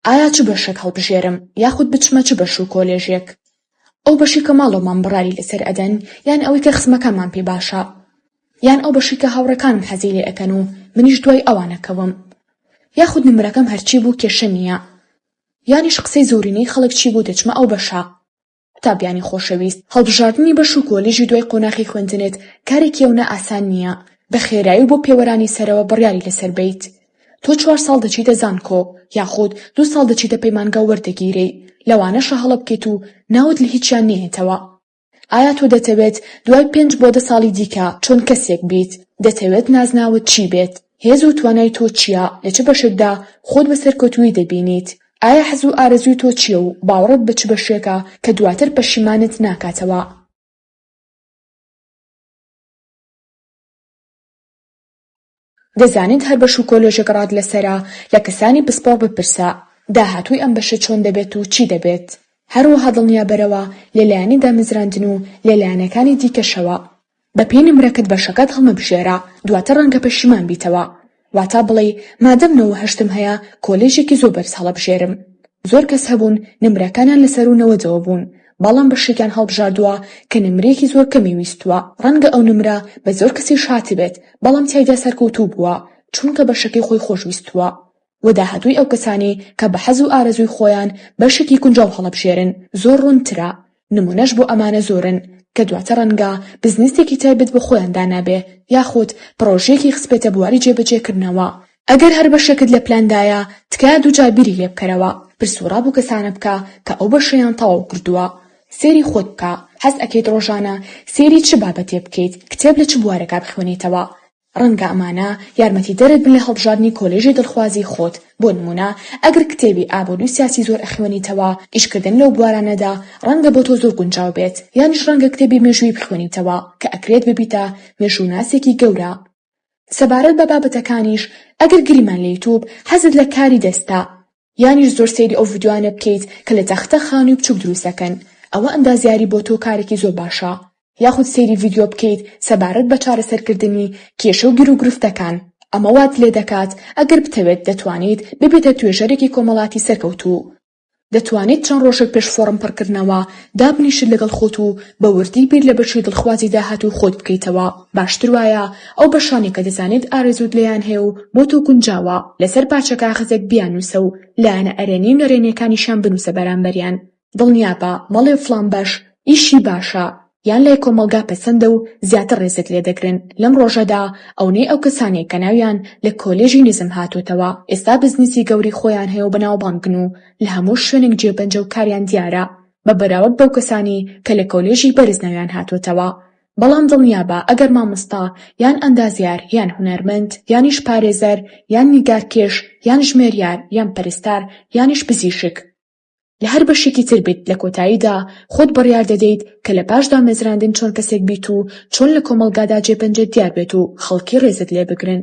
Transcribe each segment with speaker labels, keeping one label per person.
Speaker 1: ئایا چ بەشێک هەڵبژێرم یاخود بچمە چ بەش و کۆلێژێک؟ ئەو بەشی کە ماڵ و مام بڕاری لەسەر ئەدەن یان ئەوەی کە خزمەکانمان پێ باشە؟ یان ئەو بەشی کە هاوڕێکانم حەزی لێ ئەکەن و منیش دوای ئەوان ئەکەوم؟ یاخود نمرەکەم هەرچی بوو کێشە نییە؟ یانیش قسەی زۆرینەی خەڵک چی بوو دەچمە ئەو بەشە؟ قوتابیانی خۆشەویست، هەڵبژاردنی بەش و کۆلیژی دوای قۆناخی خوێندنت کارێکی ئەونە ئاسان نییە بە خێرایی و بۆ پێوەرانی سەرەوە بڕیاری لەسەر بەیت. تۆ چوار ساڵ دەچیتە زانکۆ یاخود دوو ساڵ دەچیتە پەیمانگا و وەردەگیرێی، لەوانەشە هەڵە بکەیت و ناوت لە هیچیان نەیەتەوە. ئایا تۆ دەتەوێت دوای پێنج بۆ دە ساڵی دیکە چۆن کەسێک بیت؟ دەتەوێت نازناوت چی بێت؟ هێز و توانای تۆ چییە؟ لە چ بەشێکدا خۆت بە سەرکەوتوویی دەبینیت؟ ئایا حەز و ئارەزووی تۆ چییە و باوەڕت بە چ بەشێکە کە دواتر پەشیمانت ناکاتەوە؟ دەزانیت هەر بەش و کۆلێژێک ڕات لەسەرە، لە کەسانی پسپۆڕ بپرسە داهاتووی ئەم بەشە چۆن دەبێت و چی دەبێت؟ هەروەها دڵنیابەرەوە لە لایەنی دامەزراندن و لە لایەنەکانی دیکەشەوە بەپێی نمرەکەت بەشەکەت هەڵمەبژێرە دواتر ڕەنگە پەشیمان بیتەوە واتا بڵێی مادەم نەوە هەشتم هەیە کۆلێژێکی زۆر بەرز هەڵەبژێرم زۆر کەس هەبوون نمرەکانیان لەسەروو نەوەدەوە بوون بەڵام بەشێکیان هەڵبژاردووە کە نمرەیەکی زۆر کەمی ویستووە ڕەنگە ئەو نمرە بە زۆر کەسیش هاتبێت بەڵام تیایدا سەرکەوتوو بووە چونکە بەشەکەی خۆی خۆشویستووە و داهاتووی ئەو کەسانەی کە بە حەز و ئارەزووی خۆیان بەشێکی گونجاو هەڵەبژێرن زۆر ڕوونترە، نموونەش بۆ ئەمانە زۆرن کە دواتر ڕەنگە بزنسێکی تایبەت بە خۆیان دانابێ یاخود پڕۆژەیەکی خستبێتە بواری جێبەجێکردنەوە. ئەگەر هەر بەشێکت لە پلاندایە تکایە دووجار بیری لێ بکەرەوە، پرس و ڕا بۆ کەسانە بکە کە ئەو بەشەیان تەواو کردووە، سەیری خۆت بکە حەز ئەکەیت ڕۆژانە سەیری چ بابەتێ بکەیت، کتێب لە چ بوارێکا بخوێنیتەوە، ڕەنگە ئەمانە یارمەتیدەرت بن لە هەڵبژاردنی کۆلێژی دڵخوازی خۆت، بۆ نموونە ئەگەر کتێبی ئابووری سیاسی زۆر ئەخوێنیتەوە، ئیشکردن لەو بوارانەدا ڕەنگە بۆ تۆ زۆر گونجاو بێت، یانیش ڕەنگە کتێبی مێژووی بخوێنیتەوە کە ئەکرێت ببیتە مێژووناسێکی گەورە. سەبارەت بە بابەتەکانیش ئەگەر گریمان لە یوتوب، حەزت لە کاری دەستە، یانیش زۆر سەیری ئەو ڤیدیۆانە بکەیت کە لە تەختە خانوی بچوک دروست دەکەن ئەوە ئەندازیاری بۆ تۆ کارێکی زۆر باشە یاخود سەیری ڤیدیۆ بکەیت سەبارەت بە چارەسەر کردنی کێشە و گیروگرفتەکان ئەمە وات لێ دەکات ئەگەر بتەوێت دەتوانیت ببیتە توێژەرێکی کۆمەڵاتی سەرکەوتوو دەتوانیت چەند ڕۆژێک پێش فۆڕم پڕکردنەوە دابنیشیت لەگەڵ خۆت و بە وردی بیر لە بەشی دڵخوازی داهاتووی خۆت بکەیتەوە. باشتر وایە ئەو بەشانەی کە دەزانێت ئارەزووت لێیان هەیە و بۆ تۆ گونجاوە، لەسەر پارچە کاغەزێک بیاننووسە و لایەنە ئەرێنی و نەرێنیەکانیشیان بنووسە بەرامبەریان. دڵنیابە مەڵێ فڵان بەش ئیشی باشە یان لای کۆمەڵگا پەسەندە و زیاتر ڕێزت لێ دەگرن لەم ڕۆژەدا، ئەونەی ئەو کەسانەی کە ناویان لە کۆلێژی نزم هاتۆتەوە ئێستا بزنسی گەورەی خۆیان هەیە و بەناوبانگن و لە هەموو شوێنێک جێبەنجە و کاریان دیارە بە بەراورد بەو کەسانەی کە لە کۆلێژی بەرز ناویان هاتۆتەوە بەڵام دڵنیابە ئەگەر مامۆستا یان ئەندازیار یان هونەرمەند یانیش پارێزەر یان نیگارکێش یان ژمێریار یان پەرستار یانیش پزیشک لە هەر بەشێکی تر بیت لە کۆتاییدا خۆت بڕیار دەدەیت کە لە پاش دامەزراندن چۆن کەسێک بیت و چۆن لە کۆمەڵگادا جێپەنجەت دیار بێت و خەڵکی ڕێزت لێ بگرن.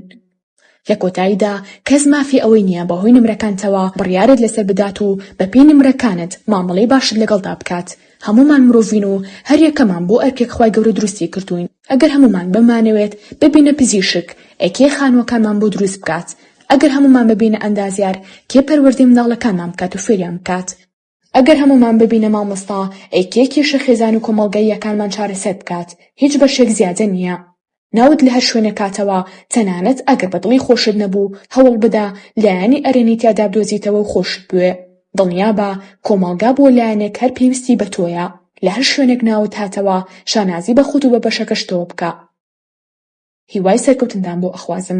Speaker 1: لە کۆتاییدا کەس مافی ئەوەی نییە بەهۆی نمرەکانتەوە بڕیارت لەسەر بدات و بەپێی نمرەکانت مامەڵەی باشت لەگەڵدا بکات، هەموومان مرۆڤین و هەریەکەمان بۆ ئەرکێک خوای گەورە دروستی کردووین، ئەگەر هەموومان بمانەوێت ببینە پزیشک ئەی کێ خانووەکانمان بۆ دروست بکات؟ ئەگەر هەموومان ببینە ئەندازیار کێ پەروەردەی منداڵەکانمان بکات و فێریان بکات؟ ئەگەر هەموومان ببینە مامۆستا ئەیکێ کێشە خێزان و کۆمەڵگاییەکانمان چارەسەر بکات هیچ بەشێک زیادە نییە ناوت لە هەر شوێنێک کاتەوە تەنانەت ئەگەر بە دڵی خۆشت نەبوو هەوڵ بدە لایەنی ئەرێنی تیادا بدۆزیتەوە و خۆشت بوێ دڵنیابە کۆمەڵگا بۆ لایەنێک هەر پێویستی بە تۆیە لە هەر شوێنێک ناوت هاتەوە شانازی بە خۆت و بە بەشەکەشتەوە بکە هیوای سەرکەوتندان بۆ ئەخوازم.